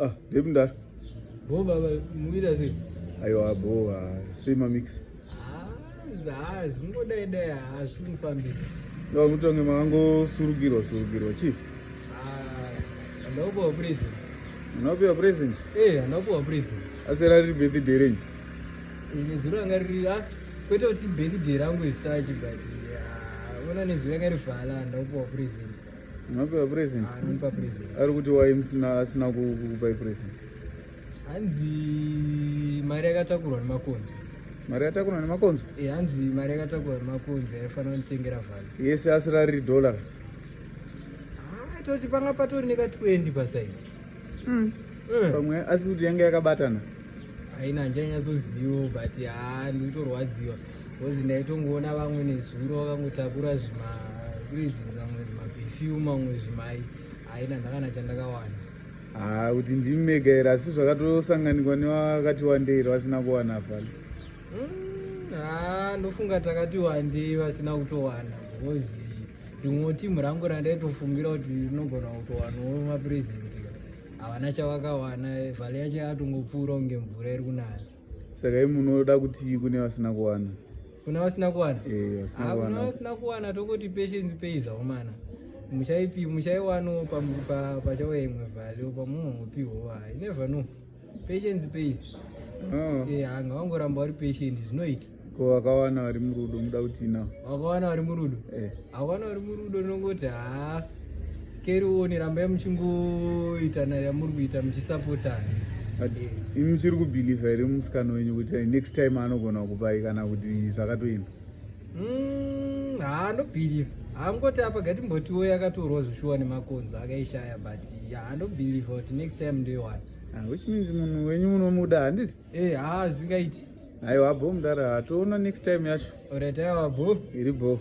Ah, baby ndari. Bo baba, muira sei? Aiwa bo, ah, sei mamix? Ah, ah zvingodai dai haasi ah, kunifambira. Ndo mutonge mango surugirwa surugirwa chief. Ah, andakupiwa present. Unapiwa present? Eh, andakupiwa present. Asera riri birthday renyu? Ini zuro anga riri ah, kwete kuti birthday rangu isachi but ah, ona nezuro anga rivhala andakupiwa present. Unopewa present? Ah, unomupa present. Ari kuti why musina asina kukupai present? Hanzi mari yakatakurwa nemakonzo. Mari yakatakurwa nemakonzo? Eh, hanzi mari yakatakurwa nemakonzo yaifanira kunditengera vhani. Yese asira riri dollar. Ah, toti panga patori neka 20 pasaidi. Mm. Mm. Pamwe asi kuti yanga yakabatana. haina handichanyatsozivo but haa ndikutorwadziwa bcause ndaitongoona vamwe nezuro vakangotakura zvima reasons amwe zvimaperfume amwe zvimai haina ndakana chandakawana haa kuti ndimi mega here asi zvakatosanganikwa nevakati wandei vasina kuwana pano hmm, haa ndofunga takati wandei vasina kutowana because rimwe timu rangu randaitofungira kuti rinogona kutowanawo mapresence havana chavakawana vhale yacho yatongopfuura kunge mvura iri kunaya saka i munoda kuti kune vasina kuwana kuna vasina kuwana eh, kuna vasina kuwana tokoti patience pays aumana muchaipi muchaiwanawo pachauya imwe value pamunopiwo i never know patience pays oh. eh, anga wangoramba uri patient zvinoita ko vakawana vari murudo muda kuti na vakawana vari murudo eh. vakawana vari murudo nongoti haa keri uone rambai muchingoita nayo yamuri kuita muchisapotana imi muchiri kubhilivha here musikana wenyu kuti next time anogona kupai kana kuti zvakatoenda mm, haa ndobhilivha haangoti apa gatimbotiwo yakatorwa zvoshuwa nemakonzo akaishaya but haa ndobhilivha kuti next time ndoiwana ah, which means munhu wenyu munomuda handiti Eh, haa zingaiti. Aiwa bho mdara, toona next time yacho. Alright, aiwa bho. Iri bho.